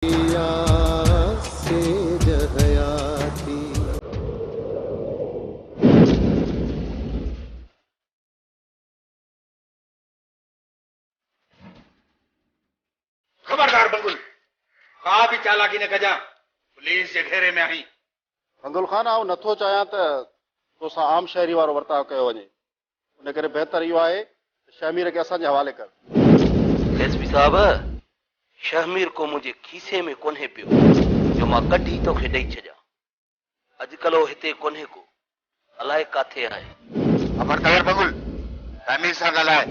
پياس سي جهيا ٿي. خبردار بنگل! ڪا به چالاڪي نه ڪجان، پوليس جي گهيري ۾ آهين. بنگل خان، آئون نٿو چاهيان ته توسان عام شهري وارو ورتاء ڪيو وڃي. ان ڪري بهتر اهو آهي ته شهمير کي اسان جي حوالي ڪر. ايس پي صاحب! شهمير ڪو منهنجي کيسي ۾ ڪونهي پيو جو مان ڪڍي توکي ڏئي ڇڏيان. اڄڪلهه هو هتي ڪونهي ڪو. الائي ڪاٿي آهي. خبر ڪلر بگل! شهمير سان ڳالهاء ۽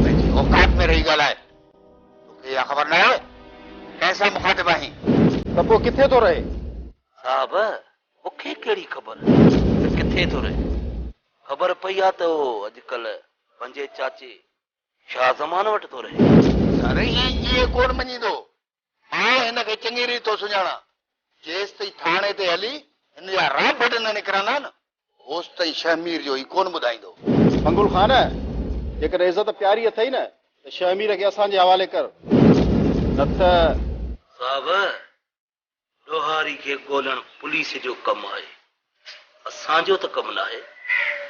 پنهنجي اوقات ۾ رهي ڳالهاء. توکي اها خبر ناهي ته ڪنهن سان مخاطب آهين. ته پوء ڪٿي ٿو رهي؟ صاحب! مون کي ڪهڙي خبر ته ڪٿي ٿو رهي. خبر پئي آ ته هو اڄ ڪلهه پنهنجي چاچي شاهه زمان وٽ ٿو رهي. رهي ائين ڪونه مڃيندو. مان هن کي چڱي ريت ٿو سڃاڻان. جيستائين ٿاڻي تي هلي هن جا رانڀٽ نه نڪرندا نه، اوستائين شهمير جو هي ڪونه ٻڌائيندو. منگل خان! جيڪڏهن عزت پياري اٿئي نه ته شهمير کي اسان جي حوالي ڪر. نه ته. صاحب! ڏوهاري کي ڳولڻ پوليس جو ڪم آهي، اسان جو ته ڪم ناهي،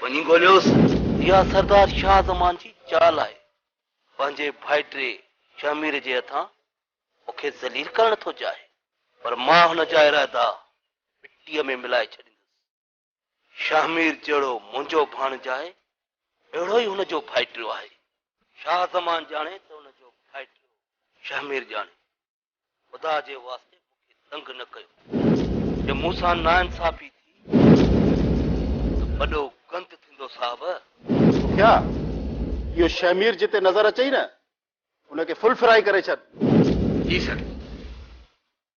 وڃي ڳوليوس. اها سردار شاهه زمان جي چال آهي، پنهنجي ڀائٽي شهمير جي هٿان مون کي ذليل ڪرڻ ٿو چاهي، پر مان هن جا ارادا مٽيء ۾ ملائي ڇڏيندس. شاهه مير جهڙو منهنجو ڀاڻج آهي، اهڙو ئي هن جو ڀائٽيو آهي. شاهه زمان ڄاڻي ته هن جو ڀائٽيو شاهه مير ڄاڻي. خدا جي واسطي مون کي تنگ نه ڪيو. جي مون سان ناانصافي ٿي ته وڏو گند ٿيندو صاحب. سکيا، اهو شاهه مير جتي نظر اچئي نه، ان کي ڦل فرائي ڪري ڇڏ. جي سر.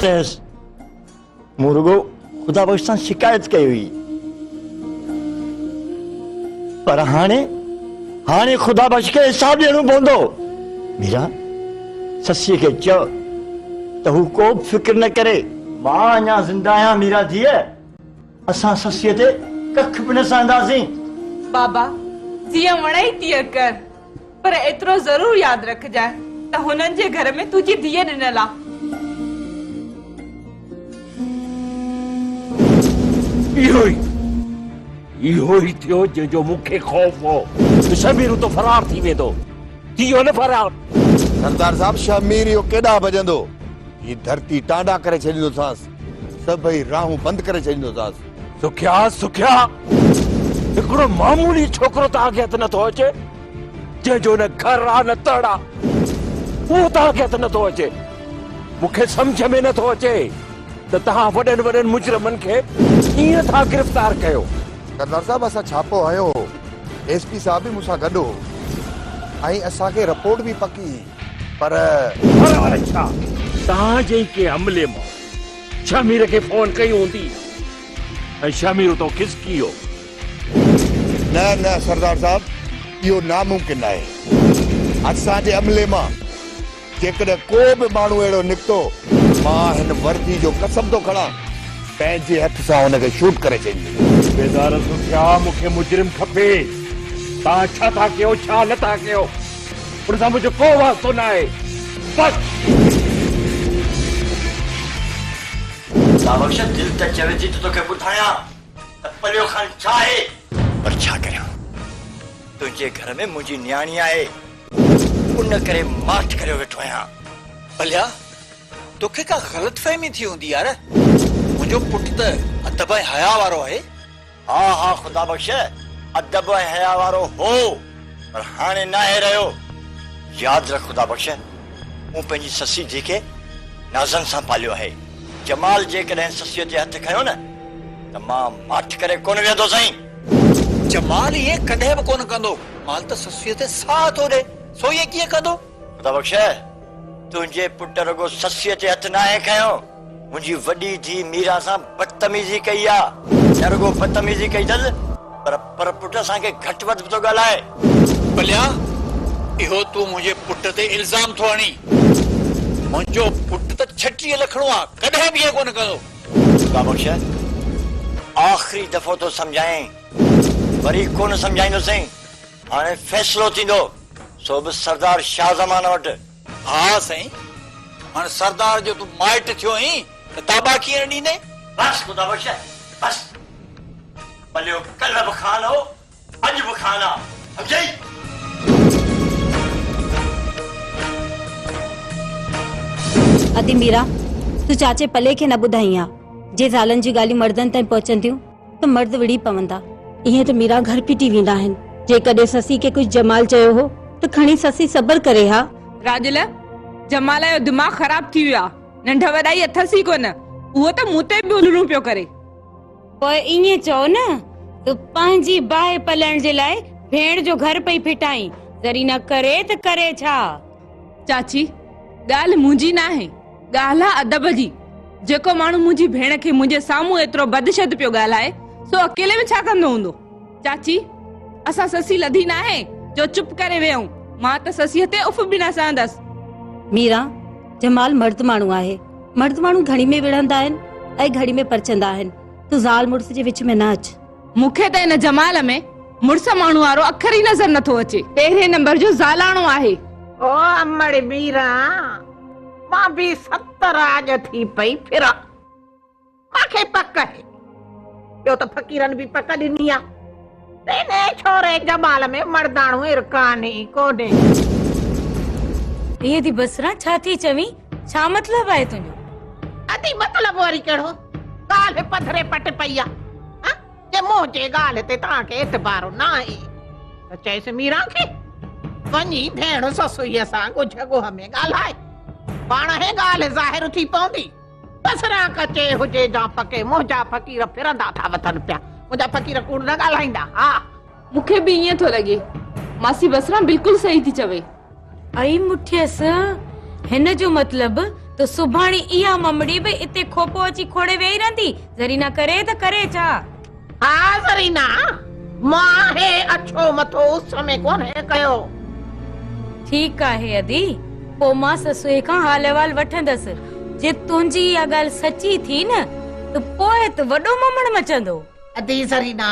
چيس، مون رڳو خدا بخش سان شڪايت ڪئي هئي. پر هاڻي، هاڻي خدا بخش کي حساب ڏيڻو پوندو. ميرا، سسيء کي چئو ته هو ڪوبه فڪر نه ڪري. مان اڃا زنده آهيان ميرا ڌيء. اسان سسيء تي ڪک به نه سهنداسين. بابا، جيئن وڻئي تيئن ڪر، پر ايترو ضرور ياد رکجانء ته هنن جي گهر ۾ تنهنجي ڌيء ڏنل آ. اهو ئي، اهو ئي ٿيو جنهن جو مون کي خوف هو ته شهميرو ته فرار ٿي ويندو. ٿيو نه فرار. سردار صاحب، شهميرو ڪيڏانهن ڀڄندو؟ هي ڌرتي ٽانڊا ڪري ڇڏيندوسانس. سڀئي راهون بند ڪري ڇڏيندوساس. سکيا سکيا هڪڙو معمولي ڇوڪرو توهان کي هٿ نٿو اچي جنهن جو نه گهر آ نه تڙ آ اهو توهان کي هٿ نٿو اچي مون کي سمجهه ۾ نٿو اچي ته توهان وڏن وڏن مجرمن کي ڪيئن ٿا گرفتار ڪيو. سردار صاحب اسان ڇاپو هنيو هو ايس پي صاحب به مون سان گڏ هو ۽ اسان کي رپورٽ به پڪي پر. پر ور ڇا؟ توهان جي ئي ڪنهن عملي ماڻهو شهمير کي فون ڪئي هوندي ۽ شهمير اتان کسڪي ويو. نه نه سردار صاحب اهو ناممڪن آهي. اسان جي عملي مان جيڪڏهن ڪو به ماڻهو اهڙو نڪتو. مان هن وردي جو قسم ٿو کڻان پنهنجي هٿ سان هن کي شوٽ ڪري ڇڏيندس. صوبيدار سکيا مون کي مجرم کپي. توهان ڇا ٿا ڪيو ڇا نه ٿا ڪيو. ان سان منهنجو ڪو واسطو نه آهي. بس! ساوڪ شاهه دل ته چوي ٿي ته توکي ٻڌايان ته پليو خان ڇا آهي؟ پر ڇا ڪريان؟ تنهنجي گهر ۾ منهنجي نياڻي آهي. ان ڪري ماٺ ڪريو ويٺو آهيان. پليا! توکي ڪا غلط فهمي ٿي هوندي يار. منهنجو پٽ ته ادب ۽ حياء وارو آهي. ها ها خدا بخش ادب ۽ حيا وارو هو پر هاڻي ناهي رهيو. ياد رک خدا بخش مون پنهنجي سسي ڌي کي نازن سان پاليو آهي. جمال جيڪڏهن سسيء تي هٿ کنيو نه ته مان ماٺ ڪري ڪونه ويهندو سائين. جمال ائين ڪڏهن به ڪونه ڪندو. مال ته سسيء تي ساهه ٿو ڏئي سو ائين ڪيئن ڪندو. خدا بخش! تنهنجي پٽ رڳو سسيء تي هٿ ناهي کنيو، منهنجي وڏي ڌيء ميرا سان بدتميزي ڪئي آ. نه رڳو بدتميزي ڪئي اٿس، پر پر پٽ اسان کي گهٽ وڌ به ٿو ڳالهائي. ٻليا! اهو تون منهنجي پٽ تي الزام ٿو هڻين؟ منهنجو پٽ ته ڇٽيهه لکڻو آ، ڪڏهن به ائين ڪونه ڪندو. خدا بخش! آخري دفعو ٿو سمجهايانء، وري ڪونه سمجهائيندوسين. هاڻي فيصلو ٿيندو، سو به سردار شاهه زمان وٽ. ها سائين! هاڻي سردار جو تون مائٽ ٿيو هين، ته تابا ڪيئن ڏيندين؟ بس خدا بخش! بس! ڀليو ڪلهه به خان هو، اڄ به خان آ، سمجهيئي؟ ادي ميران! تون چاچي پلي کي نه ٻڌائين ها، جي زالن جون ڳالهيون مڙدن تائين پهچن ٿيون، ته مرد وڙهي پوندا. ائين ته ميرا گهر ڦٽي ويندا آهن. جيڪڏهن سسي کي ڪجهه جمال چيو هو ته کڻي سسي صبر ڪري ها. راڄل، جمال جو دماغ خراب ٿي ويو آ. ننڍ وڏائي اٿس ئي ڪونه. اهو ته مون تي به الهڙون پيو ڪري. پوء ائين چئو نه ته پنهنجي باهه پلڻ جي لاء ڀيڻ جو گهر پئي ڦٽائين. زرينه ڪري ته ڪري ڇا؟ چاچي، ڳالهه منهنجي ناهي. ڳالهه آ ادب جي، جيڪو ماڻهو منهنجي ڀيڻ کي منهنجي سامهون ايترو بدشد پيو ڳالهائي، سو اڪيلي ۾ ڇا ڪندو هوندو؟ چاچي، اسان سسي لڌي ناهي، جو چپ ڪري ويهون، مان ته سسيء تي اف به نه سهندس. ميران، جمال مرد ماڻهو آهي، مرد ماڻهو گهڙي ۾ وڙهندا آهن ۽ گهڙي ۾ پرچندا آهن، تون زال مڙس جي وچ ۾ نه اچ. مون کي ته ان جمال ۾ مڙس ماڻهو وارو اکر ئي نظر نٿو اچي. پهرين نمبر جو زالاڻو آهي. او امڙ ميرا مان به ستر آڄ ٿي پئي ڦران. مان کي پڪ آهي. ٻيو ته فقيرن به پڪ ڏني آ ته انهيء ڇوري جمال ۾ مڙداڻو ارڪان ئي ڪونهي. اي ٿي بصرا ڇا ٿي چوين؟ ڇا مطلب آهي تنهنجو ادي مطلب وري ڪهڙو ڳالهه پڌري پٽ پئي آ ها جي منهنجي ڳالهه تي توهان کي اعتبار نه آهي ته چيس ميرا کي وڃي ڀيڻ سسوئي سان ڳجهه ڳوهه ۾ ڳالهائي پاڻ هي ڳالهه ظاهر ٿي پوندي بسرا ڪچي هجي جا پڪي منهنجا فقير ڦرندا ٿا وتن پيا منهنجا فقير ڪوڙ نه ڳالهائيندا ها مون کي به ائين ٿو لڳي. ماسي بصره بلڪل صحيح ٿي چوي. اي مٺيس هن جو مطلب ته سڀاڻي اها ممڙي به اتي کوپو اچي کوڙي ويهي رهندي. زرينا ڪري ته ڪري ڇا؟ ها زرينا مان هي اڇو مٿو اس ۾ ڪونهي ڪيو. ٺيڪ آهي ادي پوء مان سسئي کان حال احوال وٺندس. جي تنهنجي اها ڳالهه سچي ٿي نه ته پوء ته وڏو ممڻ مچندو. ادي زرينا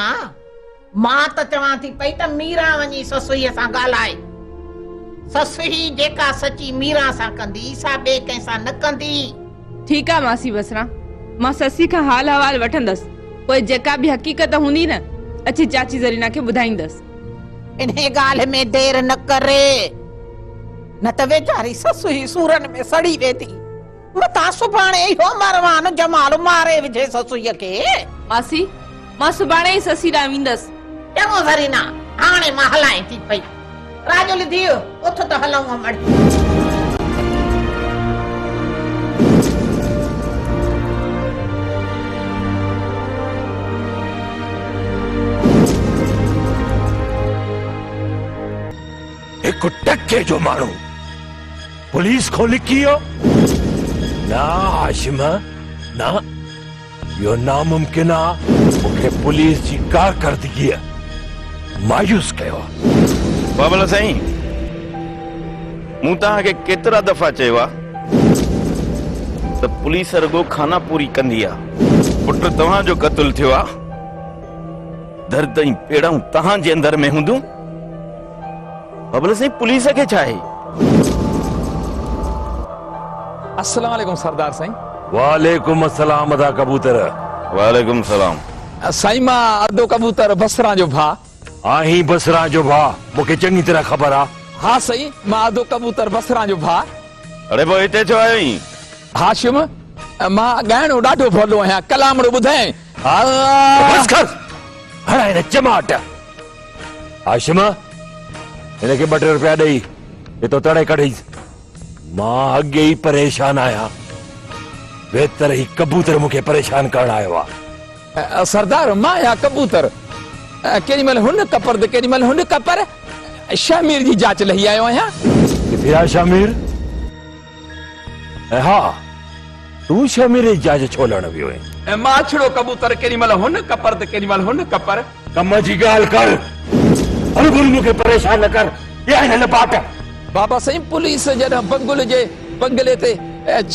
مان ته چوان ٿي پئي ته ميران وڃي سسئيء سان ڳالهائي. سسئي جيڪا سچي ميران سان ڪندي، سا ٻئي ڪنهن سان نه ڪندي. ٺيڪ آ ماسي بصرا، مان سسئي کان حال حوال وٺندس، پوء جيڪا به حقيقت هوندي نه، اچي چاچي زرينا کي ٻڌائيندس. انهيء ڳالهه ۾ دير نه ڪر، نه ته ويچاري سسئي سورن ۾ سڙي ويندي. متان سڀاڻي اهو مروان جمال ماري وجهي سسئيء کي. ماسي، مان سڀاڻي ئي سسئي ڏانهن ويندس. چڱو زرينا، هاڻي مان هلانء ٿي پئي. راڄولي ڌيء، اٿ ته هلئون امڙ. هڪ ٽڪي جو ماڻهو! پوليس کان لڪي ويو؟ نه هاشم، نه. اهو ناممڪن آ. مون کي پوليس جي ڪارڪردگيء مايوس ڪيو آ. بابل سائين، مون توهان کي ڪيترا دفعا چيو آ ته پوليس رڳو خاناپوري ڪندي آ. پٽ توهان جو قتل ٿيو آ. درد ۽ پيڙائون توهان جي اندر ۾ هونديون. ببل سائين پوليس کي ڇا آهي. السلام عليڪم سردار سائين. وعليڪم السلام ادا ڪبوتر. وعليڪم السلام. سائين مان ادو ڪبوتر بصران جو ڀاء. آهين بصران جو ڀاء مون کي چڱي طرح خبر آ. ها سائين مان ادو ڪبوتر بصران جو ڀاء. اڙي پوء هتي ڇو آيو آهين. هاشم مان ڳائڻو ڏاڍو ڀولو آهيان ڪلامڙو ٻڌايائين. بس ڪر هڻ هن چماٽ. هاشم هن کي ٻه ٽي روپيا ڏئي هتو تڙي ڪڍيس مان اڳي ئي پريشان آهيان بهتر هي ڪبوتر مون کي پريشان ڪرڻ آيو آهي سردار مان يا ڪبوتر ڪيڏي مهل هن ڪپر ته ڪيڏي مهل هن ڪپر شهمير جي جاچ لهي آيو آهيان ڪٿي آهي شهمير ۽ ها! تون ڇا ميري جاج ڇو لهڻ ويو اهين؟ ۽ ماڇڙو ڪبوتر ڪيڏي مهل هن ڪپر ته ڪيڏي مهل هن ڪپر. ڪم جي ڳالهه ڪر. هر گهڙي مون کي پريشان نه ڪر. اها هي نه باٽ. بابا سائين پوليس جڏهن بنگل جي بنگلي تي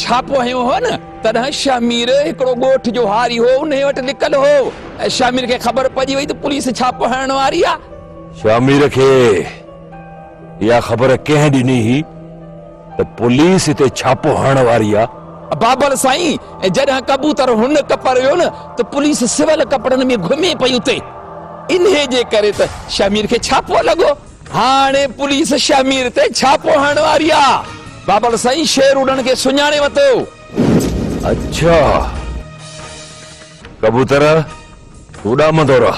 ڇاپو هنيو هو نه تڏهن شاهه مير هڪڙو ڳوٺ جو هاري هو انهي وٽ لڪل هو ۽ شاهه مير کي خبر پئجي وئي ته پوليس ڇاپو هڻڻ واري آ. شاهه مير کي اها خبر ڪنهن ڏني هئي؟ ته پوليس هتي ڇاپو هڻڻ واري آ. بابل سائين جڏهن ڪبوتر هن ڪپر ويو نه ته پوليس سول ڪپڙن ۾ گهمي پئي اتي انهي جي ڪري ته شهمير کي ڇاپو لڳو هاڻي پوليس شهمير تي ڇاپو هڻڻ واري آ بابل سائين شير اڏڻ کي سڃاڻي وتو. اڇا ڪبوتر تون اڏامندو رهه.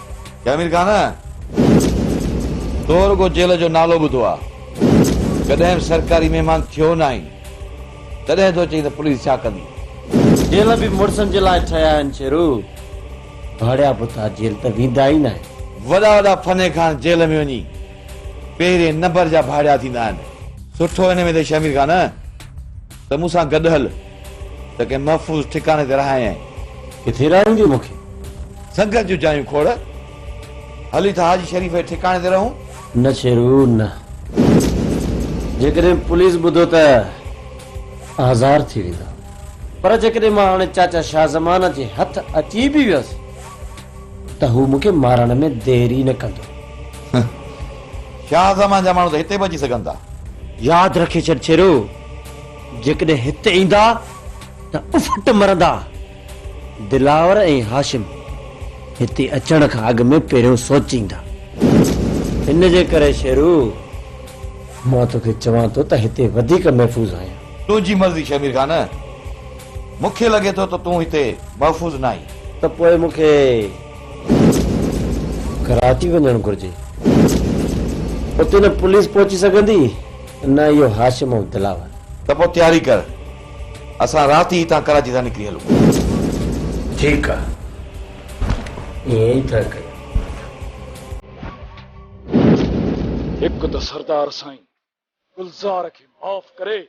يا امير خان، تو رڳو جيل جو نالو ٻڌو آ، ڪڏهن به سرڪاري مهمان ٿيو ناهين، تڏهن ٿو چئين ته پوليس ڇا ڪندي؟ جيل به مڙسن جي لاء ٺهيا آهن شيرو، ڀاڙيا بوتا جيل ته ويندا ئي ناهن. وڏا وڏا فني خان جيل ۾ وڃي پهرين نمبر جا ڀاڙيا ٿيندا آهن. سٺو هن ۾ ته شمير خان. ته مون سان گڏ هل. ته ڪنهن محفوظ ٺڪاڻي تي رهايئين. ڪٿي رهاريندين مون کي؟ سنگت جون جايون کوڙ. هلي ٿا حاجي شريف جي ٺڪاڻي تي رهون. نه شيرو نه. جيڪڏهن پوليس ٻڌو ته آزار ٿي ويندا. پر جيڪڏهن مان هاڻي چاچا شاهه زمان جي هٿ اچي به ويس ته هو مون کي مارڻ ۾ دير ئي نه ڪندو. شاهه زمان جا ماڻهو ته هتي به اچي سگهن ٿا. ياد رکي ڇڏ شيرو! جيڪڏهن هت ايندا ته افٽ مرندا. دلاور ۽ هاشم هتي اچڻ کان اڳ ۾ پهريون سوچيندا. ان جي ڪري شيرو، مان توکي چوان ٿو ته هتي وڌيڪ محفوظ آهيان. تنهنجي مرضي شهمير خان، مون کي لڳي ٿو ته تون هتي محفوظ نه آهين. ته پوء مون کي ڪراچي وڃڻ گهرجي. اتي نه پوليس پهچي سگهندي. نه اهو هاشم ۽ دلاور. ته پوء تياري ڪر. اسان رات ئي هتان ڪراچي ٿا نڪري هلون. ٺيڪ آ. ائين ئي ٿا ڪيون. هڪ ته سردار سائين گلزار کي معاف ڪري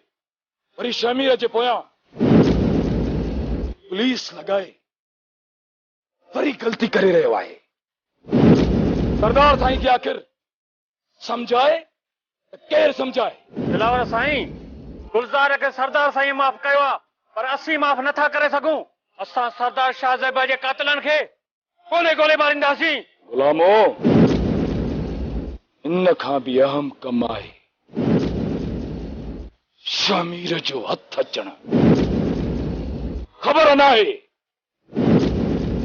وري شهمير جي پويان پوليس لڳائي وري غلطي ڪري رهيو آهي. سردار سائين کي آخر سمجهائي ته ڪير سمجهائي. دلاور سائين! گلزار کي سردار سائينء معاف ڪيو آ، پر اسين معاف نه ٿا ڪري سگهون. اسان سردار شاهه زيبا جي قاتلن کي ڪونهي گولي مارينداسين. غلامو! ان کان به اهم ڪم آهي شاهه مير جو هٿ اچڻ. خبر ناهي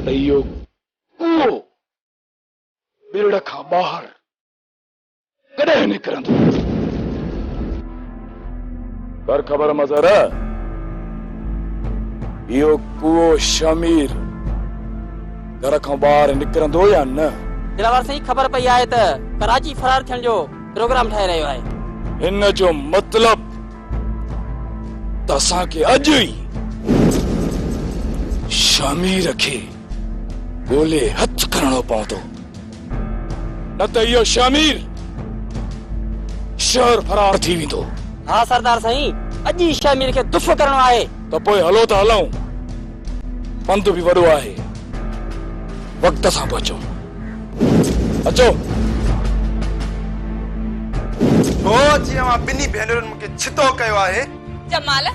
ته اهو ڪوئو ميڙ کان ٻاهر ڪڏهن نڪرندو؟ ڪر خبر مظهر، اهو ڪوئو شهمير گهر کان ٻاهر نڪرندو يا نه؟ دلاور سائين خبر پئي آهي ته ڪراچي فرار ٿيڻ جو پروگرام ٺاهي رهيو آهي. ان جو مطلب ته اسان کي اڄ ئي شهمير کي. ڳولي هٿ کڻڻو پوندو، نه ته اهو شهمير شهر فرار ٿي ويندو. ها سردار سائين، اڄ ئي شهمير کي دف ڪرڻو آهي. ته پوء هلو ته هلون، پنڌ به وڏو آهي، وقت سان پهچون. اچو. هو، جي اوهان ٻنهي ڀينرن مون کي ڇتو ڪيو آهي. جمال،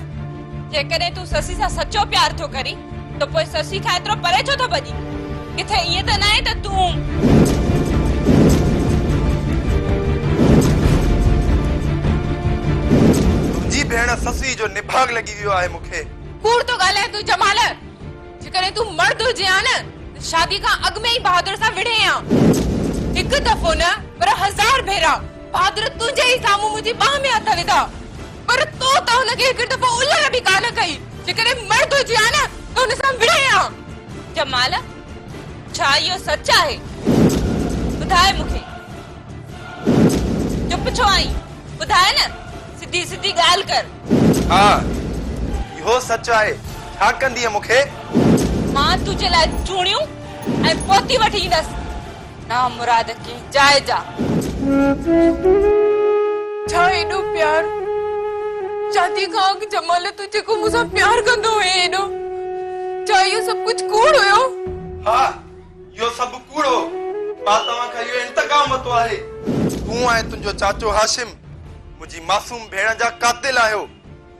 جيڪڏهن تون سسي سان سچو پيار ٿو ڪرين ته پوء سسي کان ايترو پري ڇو ٿو ڀڄين؟ ڪٿي ائين ته ناهي ته تون. تنهنجي ڀيڻ سسي جو نڀاڳ لڳي ويو آهي مون کي. ڪوڙ ٿو ڳالهائين تون جمال، جيڪڏهن تون مرد هجين ها نه ته شادي کان اڳ ۾ ئي بهادر سان وڙهين ها. هڪ دفعو نه پر هزار ڀيرا. بھادر تنهنجي ئي سامهون منهنجي ٻانهن ۾ هٿ وڌا پر تو ته هن کي هڪڙي دفعو الر به ڪانه ڪئي جيڪڏهن مرد هجي ها نه ته هن سان وڙهين ها. جمال ڇا اهو سچ آهي ٻڌاء مون کي چپ ڇو آهين ٻڌاء نه سڌي سڌي ڳالهه ڪر. ها اهو سچ آهي ڇا ڪندينء مون کي. مان تنهنجي لاء چوڻيون ۽ پوتي وٺي ايندس. نامراد ڪي جاء جا. ڇا ايڏو پيار شادي کان اڳ جمال تون جيڪو مون سان پيار ڪندو هئين ايڏو ڇا اهو سڀ ڪجهه ڪوڙ هيو؟ ها اهو سڀ ڪوڙ هو مان توهان کان اهو انتقام ورتو آهي. تون ۽ تنهنجو چاچو هاشم منهنجي معصوم ڀيڻ جا قاتل آهيو.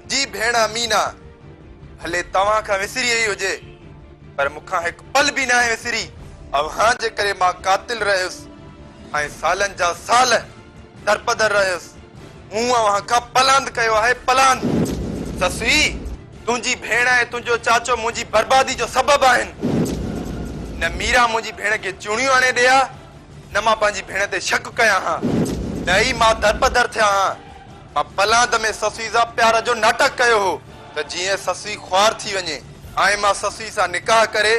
جي ڀيڻ امينه، ڀلي توهان کان وسري وئي هجي، پر مون کان هڪ پل به ناهي وسري. اوهان جي ڪري مان قاتل رهيس ۽ سالن جا سال درپدر رهيس. مون اوهان کان پلاند ڪيو آهي، پلاند. سسئي، تنهنجي ڀيڻ ۽ تنهنجو چاچو منهنجي بربادي جو سبب آهن. نه ميرا منهنجي ڀيڻ کي چوڻيون آڻي ڏئي ها، نه مان پنهنجي ڀيڻ تي شڪ ڪيان ها، نه ئي مان درپدر ٿيان ها. مان پلاند ۾ سسئي سان پيار جو ناٽڪ ڪيو هو ته جيئن سسئي خوار ٿي وڃي ۽ مان سسئي سان نڪاح ڪري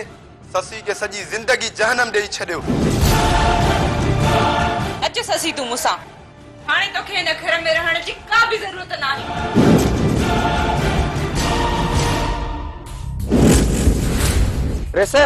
سسئي کي سڄي زندگي جهنم ڏيئي ڇڏيو. اچ سسئي تون مون سان. هاڻي توکي هن گهر ۾ رهڻ جي ڪا به ضرورت ناهي. ريسه!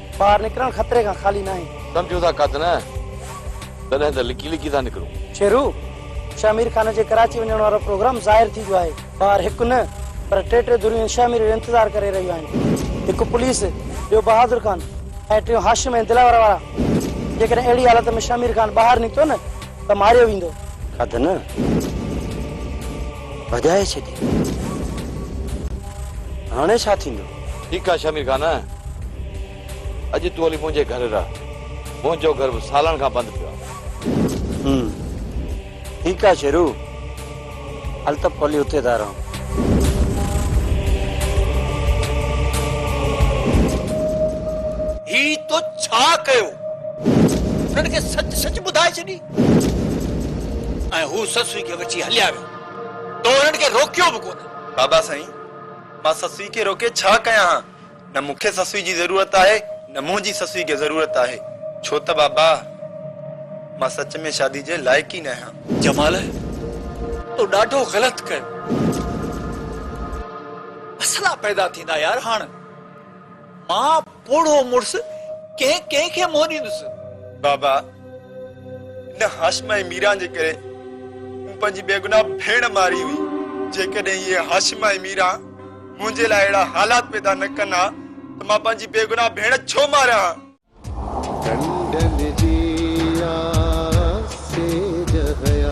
ٻاهر نڪرڻ خطري کان خالي ناهي. سمجهون ٿا ڪڌ نه تڏهن ته لڪي لڪي ٿا نڪرون. شيرو، شاهه مير خان جي ڪراچي وڃڻ وارو پروگرام ظاهر ٿي ويو آهي. ٻاهر هڪ نه پر ٽي ٽي ڌريون شاهه مير جو انتظار ڪري رهيون آهن. هڪ پوليس، ٻيو بهادر خان ۽ ٽيون هاشم ۽ دلاور وارا. جيڪڏهن اهڙي حالت ۾ شاهه مير خان ٻاهر نڪتو نه ته ماريو ويندو. ڪڌ نه ڀڄائي ڇڏي. هاڻي ڇا ٿيندو؟ ٺيڪ آ شمير خان، اڄ تون هلي منهنجي گهر رهه، منهنجو گهر به سالن کان بند پيو آهي. ٺيڪ آ شيرو، هل ته پوء هلي اتي ٿا رهون. هي تو ڇا ڪيو؟ هنن کي سچ سچ ٻڌائي ڇڏي ۽ هو سسئي کي وٺي هليا ويا. تو هنن کي روڪيو به ڪونه. بابا سائين! مان سسئي کي روڪي ڇا ڪيان ها؟ نه مون کي سسئي جي ضرورت آهي نه منهنجي سسئي کي ضرورت آهي. ڇو ته بابا مان سچ ۾ شادي جي لائق ئي ناهيان. جمال تو ڏاڍو غلط ڪيو. مسئلا پيدا ٿيندا يار هاڻ مان پوڙهو مڙس ڪنهن ڪنهن کي منهن ڏيندس. بابا ان هاشم ۽ ميران جي ڪري مون پنهنجي بيگناهه ڀيڻ ماري هئي جيڪڏهن اهي هاشم ۽ ميران منهنجي لاء اهڙا حالات پيدا نه ڪن ها ته مان پنهنجي بيگناهه ڀيڻ ڇو ماريان ها. ڍنڍن جي آس سيج هيا.